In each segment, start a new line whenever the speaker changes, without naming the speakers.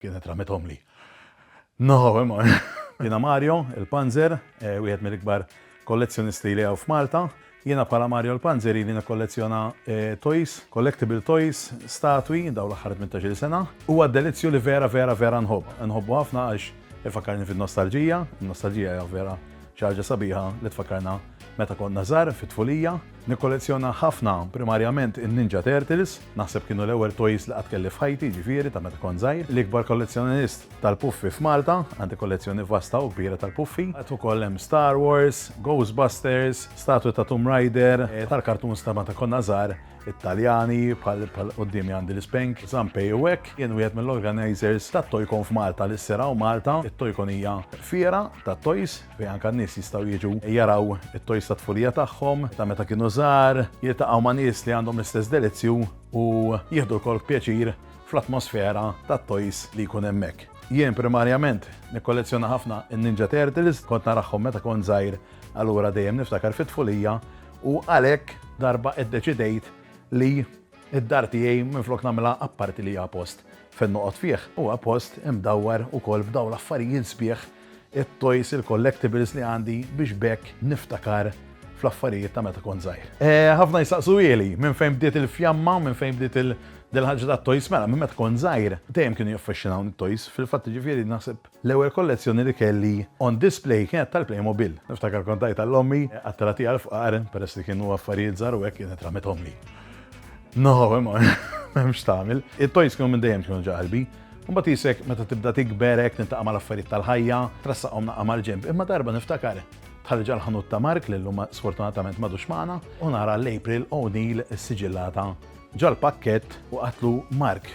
Kienet ramithomli. No, imma. Jiena Mario, il-Panzer, wieħed mill-ikbar kollezzjonisti li hawn f'Malta. Jiena bħala Mario l-Panzer ili nikkollezzjona toys, collectible toys, statwi dawn l-aħħar 18-il sena. Huwa delizzju li vera, vera, vera nħobb. Inħobbu ħafna għax ifakkarni fin-nostalġija. In-nostalġija hija vera xi ħaġa sabiħa li tfakkarna meta konna żgħar fit-tfulija. Nikkollezzjona ħafna, primarjament in-Ninja Turtles, naħseb kienu l-ewwel toys li qatt kelli f'ħajti, jiġifieri ta' meta kont żgħir. L-ikbar kollezzjonist tal-puffi f'Malta, għandi kollezzjoni vasta u kbira tal-puffi. Għad ukoll hemm Star Wars, Ghostbusters, statwi ta' Tomb Raider, tal-cartoons ta' meta konna żgħar, Italjani, bħal quddiemi għandi l-Spank, Zampei u hekk. Jien wieħed mill-organizers tat-Toycon f'Malta li ssir hawn Malta. It-Toycon hija fiera tat-toys. fejn anke n-nies jistgħu jiġu jaraw it-tojs tat-tfulija tagħhom ta' meta kienu żgħar, jiltaqgħu ma' nies li għandhom l-istess delizzju u jieħdu lkoll pjaċir fl-atmosfera tat-tojs li jkun hemmhekk. Jien primarjament nikkollezzjona ħafna n-Ninja Turtles, kont narahom meta kont żgħir allura dejjem niftakar fit-tfulija u għalhekk darba iddeċidejt li Id-dar tiegħi minflok nagħmilha apparti li hija post fejn noqgħod fih, huwa post imdawwar ukoll b'dawn l-affarijiet sbieħ, it-toys, il-collectibles li għandi biex b'hekk niftakar fl-affarijiet ta' meta kont żgħir. Ħafna jistaqsuhieli minn fejn bdiet il-fjamma, minn fejn bdiet il- dil-ħaġa tat-toys, mela minn meta kont żgħir dejjem kienu jaffaxxinawni t-toys, fil-fatt jiġifieri naħseb L-ewwel kollezzjoni li kelli on display kienet tal-Playmobil. Niftakar kont tajtha l ommi għat-tala tiegħi l-fqar peress li kienu affarijiet żgħar u hekk kienet ramithomli. No, imma m'hemmx tagħmel. It-toys kienu minn dejjem kienu ġa qalbi. Imbagħad isek meta tibda tikber hekk niltaqa' mal-affarijiet tal-ħajja, trassaqhom naqqa' mal-ġenb. Imma darba niftakar dħalt ġal-ħanut ta' Mark li llum sfortunatament m'għadux magħna u nara l-April O'Neil siġillata ġal-pakkett u qatlu Mark,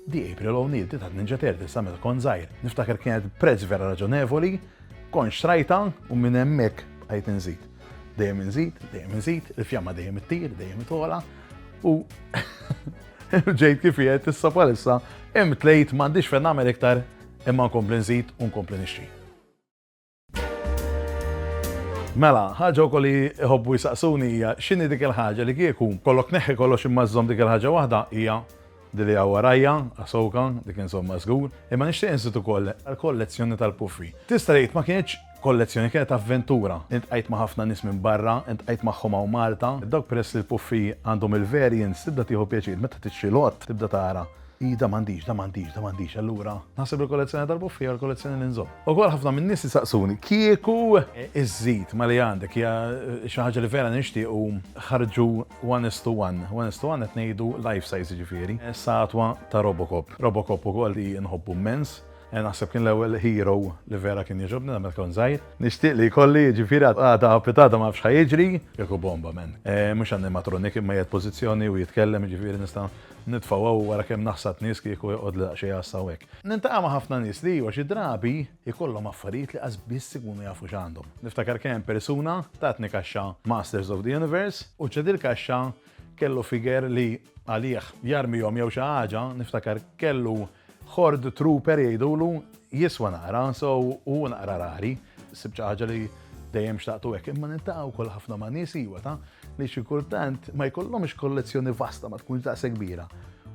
The April O'Neil di tat-Ninja Turtles sa meta kont żgħir. Niftakar kienet prezz vera raġonevoli, kont xtrajtha u minn hemmhekk bqajt inżid. Dejjem inżid, dejjem inżid, il-fjamma dejjem ittir, dejjem itogħla u ġejt kif qiegħed issa bħalissa imtlejt m'għandix fejn nagħmel iktar imma nkompli nżid u nkompli nixtri. Mela, ħaġa wkoll li jħobbu jisaqsuni hija x'inhi dik il-ħaġa li kieku kollok neħħi kollox imma żżomm dik il-ħaġa waħda hija dili għaw warajja, għasoka, dik insomma żgur, imma nixtieq insitu koll għal-kollezzjoni tal-puffi. Tista' tgħid ma kienx kollezzjoni kienet avventura. Intqajt ma' ħafna nies minn barra, intqajt magħhom hawn Malta. Dawk peress li l-puffi għandhom il-variants tibda tieħu pjaċir meta tixtri lott tibda tara Hi da m'għandix, da m'għandix, da m'għandix, allura naħseb li l-kollezzjoni darbu fiha l-kollezzjoni li nżomm. Ukoll ħafna minn nies isaqsuni kieku iżżid ma li għandek hija xi ħaġa li vera nixtiequ ħarġu one is to one. One is to one qed ngħidu life size jiġifieri, statwa ta' Robocop. Robocop ukoll li nħobbu mmens, naħseb kien l-ewwel hero li vera kien jogħġobni meta kont żgħir. Nixtieq li jkolli jiġifieri għada u pitgħada ma nafx ħa jiġri, kieku bomba man. Mhux animatronic imma qiegħed pożizzjoni u jitkellem jiġifieri nista' Nitfa' hawn wara kemm naħsad nies kieku joqgħodli daqsxejn għassa hawnhekk. Niltaqa' ma' ħafna nies li iva xi drabi jkollhom affarijiet li qas biss ikunu jafu x'għandhom. Niftakar kemm persuna tatni kaxxa Masters of the Universe u ċe dil-kaxxa kellu figure li għalih jarmihom jew xi ħaġa niftakar kellu Horde Trooper jgħidulu jiswa naqra, so u naqra rari, sib xi ħaġa li dejjem xtaqtu hekk, imma nintaqa' wkoll ħafna ma' nies iwa ta' li xi kultant ma jkollhomx kollezzjoni vasta ma tkunx daqse kbira.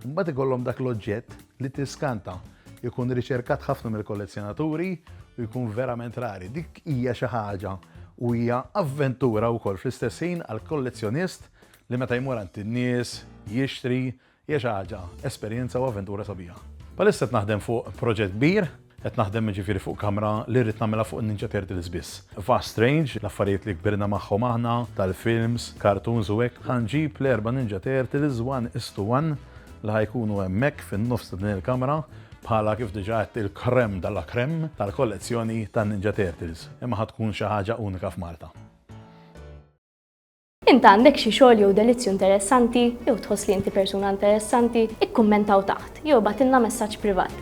Mbagħad ikollhom dak l-oġġett li tiskanta jkun riċerkat ħafna mill-kollezzjonaturi u jkun verament rari. Dik hija xi ħaġa u hija avventura wkoll fl-istess ħin għal kollezzjonist li meta jmur għand in-nies, jixtri, Hija xi ħaġa, esperjenza u avventura sabiħa. Bħalissa qed naħdem fuq proġett kbir, qed naħdem jiġifieri fuq kamra li rrid nagħmilha fuq in-Ninja Turtles biss. Vast range, l-affarijiet li kbirna magħhom aħna, tal-films, cartoons u hekk, ħa nġib l-erba' Ninja Turtles one is to one li ħa jkunu hemmhekk fin-nofs ta' din il-kamra bħala kif diġà għedt il-crème de la crème tal-kollezzjoni tan-Ninja Turtles, imma ħa tkun xi ħaġa unika f'Malta.
Int għandek xi xogħol jew delizzju interessanti jew tħoss li inti persuna interessanti, ikkummentaw taħt jew ibgħatilna messaġġ privat.